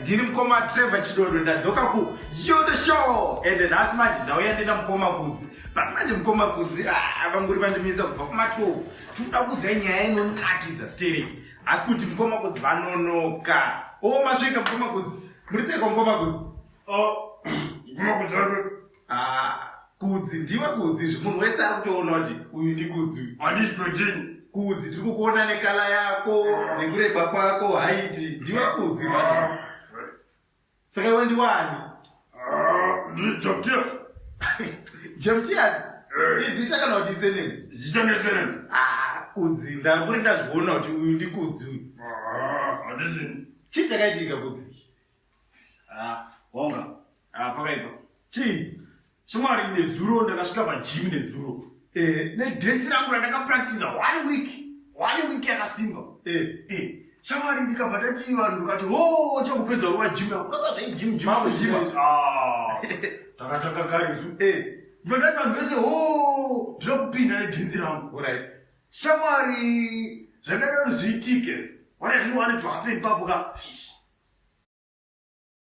ndini mukoma trevor chidodo ndadzoka ku yodo show ende nhasi manje ndauya ndina mukoma kudzi but manje mukoma kudzi ah, vanguri vandimisa kubva kuma 12 tinoda kuudzai nyaya inonakidza steri asi kuti mukomakudzi vanonoka o oh, masvika mukomakudzi muri sei kwamukomakudzi mukomakudzi oh, ah, kudzi ndiwe kudzi izvi munhu wese ari kutoona kuti uyu ndi kudzi handisi kudini kudzi tiri kukuona nekala yako nekureba kwako haiti ndiwe kudzi ah. Saka iwe ndiwani? Ah, ndiri Jabtias. Jabtias? Eh. Izita kana kuti isenemi? Zita nesenemi. Ah, kudzi ndakuri ndazviona kuti uyu ndikudzi uyu. Ah, handizini. Chii chakaitika kudzi? Ah, wonga. Ah, pakaipa. Chii? Shamwari nezuro ndakasvika pagym nezuro. Eh, nedance rangu randakapractiza one week. One week yakasimba. Eh, eh. Shamwari ndikabva tati vanhu ndikati, "Oh, chakupedza ruwa gym yangu." Ndakabva zvai gym gym. Maku gym. Ah. Takataka kare isu. Eh. Ndikabva tati vanhu vese, "Oh, ndinoda kupinda nedance rangu." Alright. Shamwari zvandada kuti zviitike. What I really wanted to happen papo ka. Eish.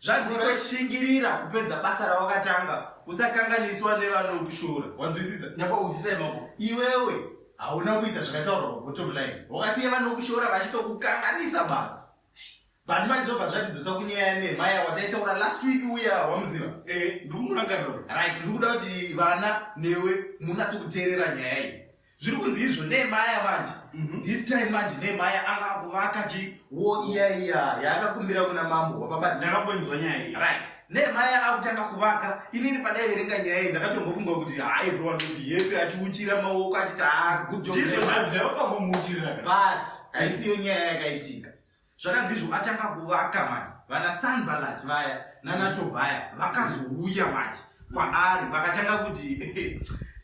zvanzi toshingirira kupedza basa rawakatanga usakanganiswa nevanokushora wanzwisisa nyapa uchisemako iwewe hauna kuita zvakataurwa pabottom line wakasiya vanokushora vachitokukanganisa basa but manje zvobva zvatidzosa kunyaya nemaya wataitaura last week uya wamuziva eh, ndikumurangarira right ndiri kuda kuti vana newe munatsokuteerera nyaya iyi zviri kunzi izvo nemaya manje mhm. this time manje nemaya anga akuvaka ji wo iya iya yaakakumbira kuna mambo wababa ndakaboinzwa nyaya iyi right nemaya akutanga kuvaka inini padai verenga nyaya iyi ndakatombofunga kuti hai bro anodiyepi achiuchira maoko achiti ha ah, good job ndizvo zvavapamumuchirira but haisiyo nyaya yakaitika zvakanzizvo atanga kuvaka manje vana sanbalat vaya nana tobhaya vakazouya manje kwaari vakatanga kuti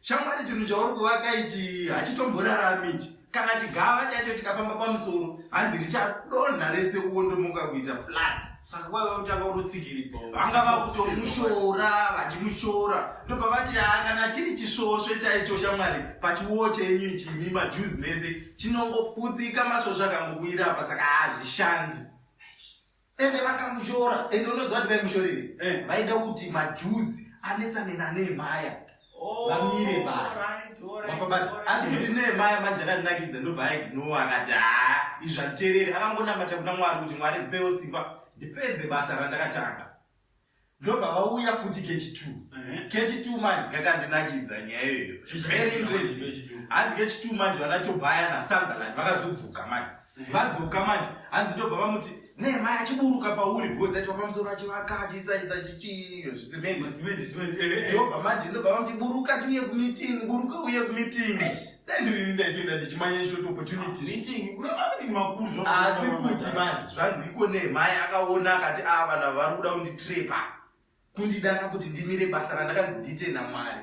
shamwari chinhu chauri kuvaka ichi hachitomborarami ichi kana chigava chacho chikafamba pamusoro hanzi richadonha rese uondomuka kuita flat saka waive kutanga unotsigiri vanga vakutomushora vachimushora ndobva vati haa kana chiri chisvosve chaicho shamwari pachiwo chenyu chimi majuzi mese chinongoputsika masvosve akangobuyira apa saka hazvishandi ende vakamushora ende unoziva kuti vaimushorei eh. vaida kuti majuzi anetsanenanee maya Oh, vamire basi asi kuti nemaya manje akandinakidza ndobva aignowa akati haa izvi anditereri akangonamata kuna mwari kuti mwari ndipewo simba ndipedze basa randakatanga ndobva vauya futi kechi t kechi t manje kakandinakidza nyaya iyoyo very interesting hanzi kechi t manje vanatobaya nasambaland vakazodzoka manje vadzoka manje hanzi ndobva vamuti nema achiburuka pauri because aitwa pamusoro achivaka achisaisa chichiiyozimendiobva manje ndobva vamuti buruka tiuye kumeeting buruka uye kumeeting ndairini ndaitoenda ndichimanya short opportunityasi kuti manje zvanzi iko nemai akaona akati a ah, vana vari kuda kunditrepa kundidana kuti ndimire basa randakanzi ndiite namwari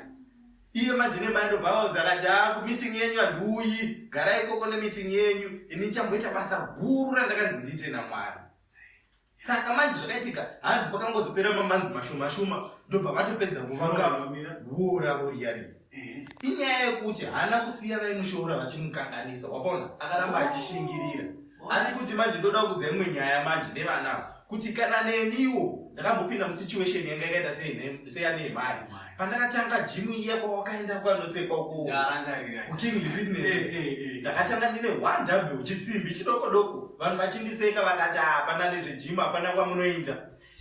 iye manje nemai ndobva vaudza kati a kumeeting yenyu handiuyi garai ikoko nemeeting yenyu ini ndichamboita basa guru randakanzi ndiite namwari saka manje zvakaitika hanzi pakangozopera mamanzi mashumashuma ndobva vatopedza kuvanga wora voriyarii inyaya yekuti haana kusiya vaimushoora vachimukanganisa wakaona akaramba achishingirira asi kuti manje ndoda kudza imwe nyaya manje nevana kuti kana neniwo ndakambopinda musituation yanga yakaita seyanehemai pandakatanga jimu iya kwawakaenda kwanosekwa kuking fitness eh, eh, eh. ndakatanga ndine one w chisimbi chidoko doko vanhu vachindiseka vakati hapana nezvejimu hapana kwamunoinda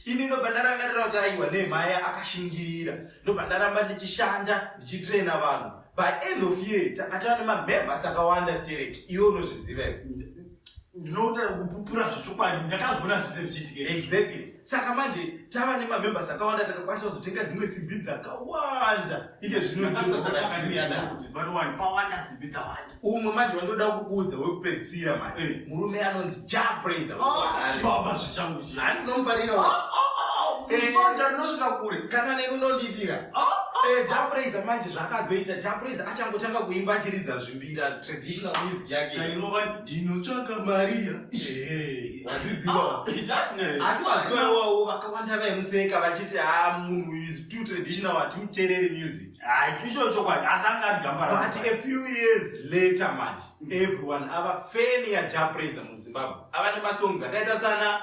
ini ndobva ndarangarira kuti aiwa nemhaya akashingirira ndobva ndaramba ndichishanda ndichitraina vanhu by end of year takatava nemamembers akawanda stereki iwe unozviziva ndinoda kupupura zvechokwadi ndakazviona zvese zvichiitika exactly saka manje tava nemamembers akawanda takakwanisa kuzotenga dzimwe simbi dzakawanda ike zvinoakuti pawanda simbi dzawanda umwe manje wandoda kukuudza wekupedzisira manje eh. murume anonzi japraiser ah, baba zvichangu chi handinomufarira ah, ah, eh. soja rinosvika kure kana neni unondiitira eh, japraiser manje zvakazoita japraiser achangotanga kuimba achiridza zvimbira traditional music yake tairova ndinotsvaka maria waziziva asi vazivawawo vakawanda vaimuseka vachiti ha munhu is too traditional hatimutereri music icho chokwadi asi anga ari gamba but a few years later manje mm. everyone ava feni yajapraize muzimbabwe ava nemasongs akaita sana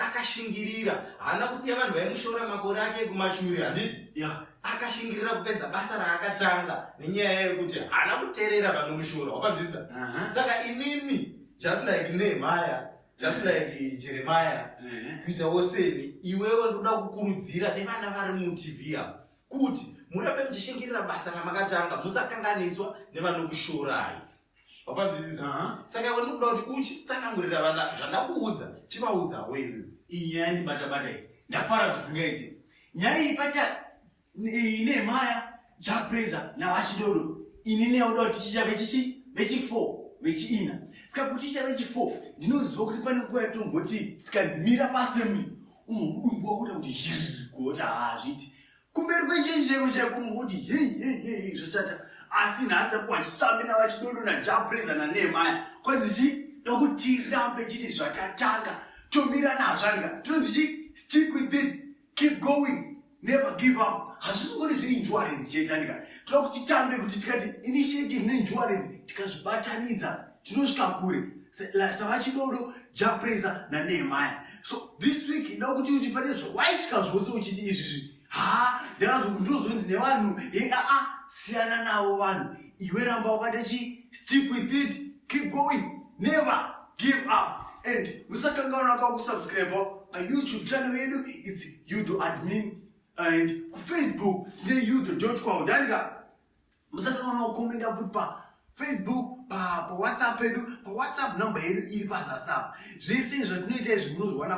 akashingirira haana kusiya vanhu vaimushora makore ake ekumashuri handiti akashingirira kupedza basa raakatanga nenyaya yekuti haana kuterera vanomushora wakanzwisa saka inini just like nehemaya just like jeremaya kuitawo seni iwewe ndoda kukurudzira nevana vari mutv avo kuti murambe muchishingirira basa ramakatanga musakanganiswa nevanokushorai wapanzwisisa saka iwe ndikuda kuti uchitsanangurira vana zvandakuudza chivaudzawo iwe inyaya ndibatabata iyi ndafara zvisingaiti nyaya iyi pata Nehemaya, Japreza naVachidodo. Ini newe ndoda kuti tichiita vechichi vechifour vechiina. Saka kuti tichiita vechifour ndinoziva kuti pane nguva yatomboti tikanzi mira paassembly unomudumbwa kuita kuti zhiri kuoti haazviti kumberi kwechechi cheko chaiko unokuti hei hei hei zvachata asi nhasi akuwa chitsvambe navachidodo najapreza nanehemaya kwanzi chii nokuti tirambe chiti zvatatanga tomira nazvanga tinonzi chi stick with it keep going never give up hazvisi ngori zveinsurance chaitandika toda kuti tambe kuti tikati initiative neinsurance tikazvibatanidza tinosvika kure savachidodo japraiser nanehemaya so this week ida kuti uti pane zvawaitya zvose uchiti izvizvi ha ndakazoku ndozonzi nevanhu he aa siyana navo vanhu iwe ramba wakati chi stick with it keep going never give up and musakangaona kwa kusubscribe pa youtube channel yedu its yudo admin and kufacebook tine yudo dot com ndanika musakangaona kukomenda futi pa facebook pawhatsapp yedu pawhatsapp number yedu iri pazasapa zvese izvo tinoita izvi munozviwana